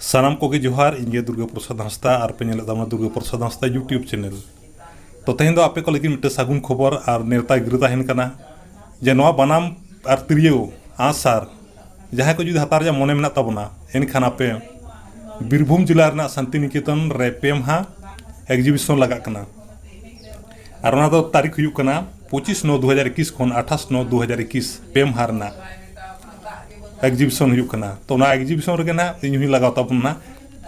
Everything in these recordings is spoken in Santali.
ᱥᱟᱱᱟᱢ ᱠᱚᱜᱮ ᱡᱚᱦᱟᱨ ᱤᱧ ᱜᱮ ᱫᱩᱨᱜᱟᱹ ᱯᱨᱚᱥᱟᱫᱽ ᱦᱟᱸᱥᱫᱟ ᱟᱨ ᱯᱮ ᱧᱮᱞᱮᱫ ᱛᱟᱵᱚᱱᱟ ᱫᱩᱨᱜᱟᱹ ᱯᱨᱚᱥᱟᱫᱽ ᱦᱟᱸᱥᱫᱟ ᱭᱩᱴᱤᱭᱩᱵᱽ ᱪᱮᱱᱮᱞ ᱛᱚ ᱛᱮᱦᱮᱧ ᱫᱚ ᱟᱯᱮ ᱠᱚ ᱞᱟᱹᱜᱤᱫ ᱢᱤᱫᱴᱮᱱ ᱥᱟᱹᱜᱩᱱ ᱠᱷᱚᱵᱚᱨ ᱟᱨ ᱱᱮᱣᱛᱟ ᱜᱤᱨᱟᱹ ᱛᱟᱦᱮᱱ ᱠᱟᱱᱟ ᱡᱮ ᱱᱚᱣᱟ ᱵᱟᱱᱟᱢ ᱟᱨ ᱛᱤᱨᱭᱳ ᱟᱸᱜᱼᱥᱟᱨ ᱡᱟᱦᱟᱸᱭ ᱠᱚ ᱡᱩᱫᱤ ᱦᱟᱛᱟᱣ ᱨᱮᱭᱟᱜ ᱢᱚᱱᱮ ᱢᱮᱱᱟᱜ ᱛᱟᱵᱚᱱᱟ ᱮᱱᱠᱷᱟᱱ ᱟᱯᱮ ᱵᱤᱨᱵᱷᱩᱢ ᱡᱮᱞᱟ ᱨᱮᱱᱟᱜ ᱥᱟᱱᱛᱤᱱᱤᱠᱮᱛᱚᱱ ᱨᱮ ᱯᱮ ᱢᱟᱦᱟ ᱮᱠᱡᱤᱵᱤᱥᱚᱱ ᱞᱟᱜᱟᱜ ᱠᱟᱱᱟ ᱟᱨ ᱚᱱᱟ ᱫᱚ ᱛᱟᱹᱨᱤᱠᱷ ᱦᱩᱭᱩᱜ ᱠᱟᱱᱟ ᱯᱚᱸᱪᱤᱥ ᱱᱚ ᱫᱩ ᱦᱟᱡᱟᱨ ᱮᱠᱩᱥ ᱠᱷᱚᱱ ᱟᱴᱷᱟᱥ ᱱᱚ ᱫᱩ ᱦᱟᱡᱟᱨ ᱮᱠᱩᱥ ᱯᱮ ᱢᱟᱦᱟ ᱨᱮᱱᱟᱜ ᱮᱠᱡᱤᱵᱤᱥᱚᱱ ᱦᱩᱭᱩᱜ ᱠᱟᱱᱟ ᱛᱚ ᱚᱱᱟ ᱮᱠᱡᱤᱵᱤᱥᱚᱱ ᱨᱮᱜᱮ ᱱᱟᱜ ᱤᱧ ᱦᱚᱸᱧ ᱞᱟᱜᱟᱣ ᱛᱟᱵᱚᱱᱟ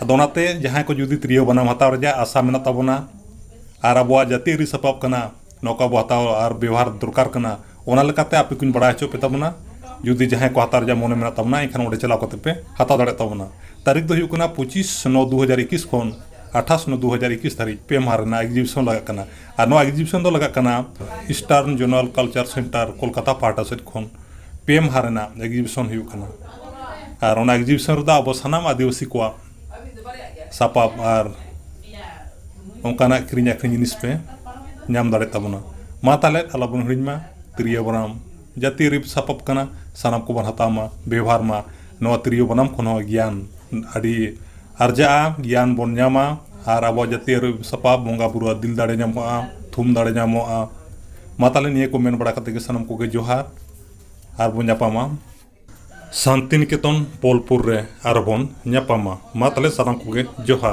ᱟᱫᱚ ᱚᱱᱟᱛᱮ ᱡᱟᱦᱟᱸᱭ ᱠᱚ ᱡᱩᱫᱤ ᱛᱤᱨᱭᱳ ᱵᱟᱱᱟᱢ ᱦᱟᱛᱟᱣ ᱨᱮᱭᱟᱜ ᱟᱥᱟ ᱢᱮᱱᱟᱜ ᱛᱟᱵᱚᱱᱟ ᱟᱨ ᱟᱵᱚᱣᱟᱜ ᱡᱟᱹᱛᱤᱭᱟᱹᱨᱤ ᱥᱟᱯᱟᱵ ᱠᱟᱱᱟ ᱱᱚᱣᱟ ᱠᱚ ᱟᱵᱚ ᱦᱟᱛᱟᱣ ᱟᱨ ᱵᱮᱣᱦᱟᱨ ᱫᱚᱨᱠᱟᱨ ᱠᱟᱱᱟ ᱚᱱᱟ ᱞᱮᱠᱟᱛᱮ ᱟᱯᱮ ᱠᱚᱧ ᱵᱟᱲᱟᱭ ᱦᱚᱪᱚ ᱯᱮ ᱛᱟᱵᱚᱱᱟ ᱡᱩᱫᱤ ᱡᱟᱦᱟᱸᱭ ᱠᱚ ᱦᱟᱛᱟᱣ ᱨᱮᱭᱟᱜ ᱢᱚᱱᱮ ᱢᱮᱱᱟᱜ ᱛᱟᱵᱚᱱᱟ ᱮᱱᱠᱷᱟᱱ ᱚᱸᱰᱮ ᱪᱟᱞᱟᱣ ᱠᱟᱛᱮ ᱯᱮ ᱦᱟᱛᱟᱣ ᱫᱟᱲᱮᱭᱟᱜ ᱛᱟᱵᱚᱱᱟ ᱛᱟᱹᱨᱤᱠᱷ ᱫᱚ ᱦᱩᱭᱩᱜ ᱠᱟᱱᱟ ᱯᱚᱸᱪᱤᱥ ᱱᱚ ᱫᱩ ᱦᱟᱡᱟᱨ ᱮᱠᱤᱥ ᱠᱷᱚᱱ ᱟᱴᱷᱟᱥ ᱱᱚ ᱫᱩ ᱦᱟᱡᱟᱨ ᱮᱠᱤᱥ ᱫᱷᱟᱹᱨᱤᱡ ᱯᱮ ᱢᱟᱦᱟ ᱨᱮᱱᱟᱜ ᱮᱠᱡᱤᱵᱤᱥᱚᱱ ᱞᱟᱜᱟᱜ ᱠᱟᱱᱟ ᱟᱨ ᱱᱚᱣᱟ ᱮᱠᱡᱤᱵᱤᱥᱚᱱ ᱫᱚ ᱞᱟᱜᱟᱜ ᱠᱟᱱᱟ eastern zonal cultural centre Kolkata ᱯᱟᱦᱴᱟ ᱥᱮᱫ ᱠᱷᱚᱱ ᱯᱮ ᱢᱟᱦᱟ ᱨᱮᱱᱟᱜ ᱮᱠᱡᱤᱵᱤᱥᱚᱱ ᱦᱩᱭᱩᱜ ᱠᱟᱱᱟ ᱟᱨ ᱚᱱᱟ ᱮᱠᱡᱤᱵᱤᱥᱚᱱ ᱨᱮᱫᱚ ᱟᱵᱚ ᱥᱟᱱᱟᱢ ᱟᱹᱫᱤᱵᱟᱹᱥᱤ ᱠᱚᱣᱟᱜ ᱥᱟᱯᱟᱵ ᱟᱨ ᱚᱱᱠᱟᱱᱟᱜ ᱠᱤᱨᱤᱧ ᱟᱹᱠᱷᱨᱤᱧ ᱡᱤᱱᱤᱥ ᱯᱮ ᱧᱟᱢ ᱫᱟᱲᱮᱭᱟᱜ ᱛᱟᱵᱚᱱᱟ ᱢᱟ ᱛᱟᱦᱚᱞᱮ ᱟᱞᱚ ᱵᱚᱱ ᱦᱤᱲᱤᱧ ᱢᱟ ᱛᱤᱨᱭᱳ ᱵᱟᱱᱟᱢ ᱡᱟᱹᱛᱤᱭᱟᱹᱨᱤ ᱥᱟᱯᱟᱵ ᱠᱟᱱᱟ ᱥᱟᱱᱟᱢ ᱠᱚᱵᱚᱱ ᱦᱟᱛᱟᱣ ᱢᱟ ᱵᱮᱵᱚᱦᱟᱨ ᱢᱟ ᱱᱚᱣᱟ ᱛᱤᱨᱭᱳ ᱵᱟᱱᱟᱢ ᱠᱷᱚᱱ ᱦᱚᱸ ᱜᱮᱭᱟᱱ ᱟᱹᱰᱤ ᱟᱨᱡᱟᱜᱼᱟ ᱜᱮᱭᱟᱱ ᱵᱚᱱ ᱧᱟᱢᱟ ᱟᱨ ᱟᱵᱚᱣᱟᱜ ᱡᱟᱹᱛᱤᱭᱟᱹᱨᱤ ᱥᱟᱯᱟᱵ ᱵᱚᱸᱜᱟ ᱵᱩᱨᱩ ᱟᱜ ᱫᱤᱞ ᱫᱟᱲᱮ ᱧᱟᱢᱚᱜᱼᱟ ᱛᱷᱩᱢ ᱫᱟᱲᱮ ᱧᱟᱢᱚᱜᱼᱟ ᱢᱟ ᱛᱟᱦᱚᱞᱮ ᱱᱤᱭᱟᱹ ᱠᱚ ᱢᱮᱱ ᱵᱟᱲᱟ ᱠᱟᱛᱮ ᱜᱮ ᱥᱟᱱᱟᱢ ᱠᱚᱜᱮ ᱡᱚᱦᱟᱨ ᱟᱨ ᱵᱚᱱ ᱧᱟᱯᱟᱢᱟ ᱥᱟᱱᱛᱤᱱᱤᱠᱮᱛᱚᱱ ᱵᱳᱞᱯᱩᱨ ᱨᱮ ᱟᱨᱚ ᱵᱚᱱ ᱧᱟᱯᱟᱢᱟ ᱢᱟ ᱛᱟᱦᱚᱞᱮ ᱥᱟᱱᱟᱢ ᱠᱚᱜᱮ ᱡᱚᱦᱟᱨ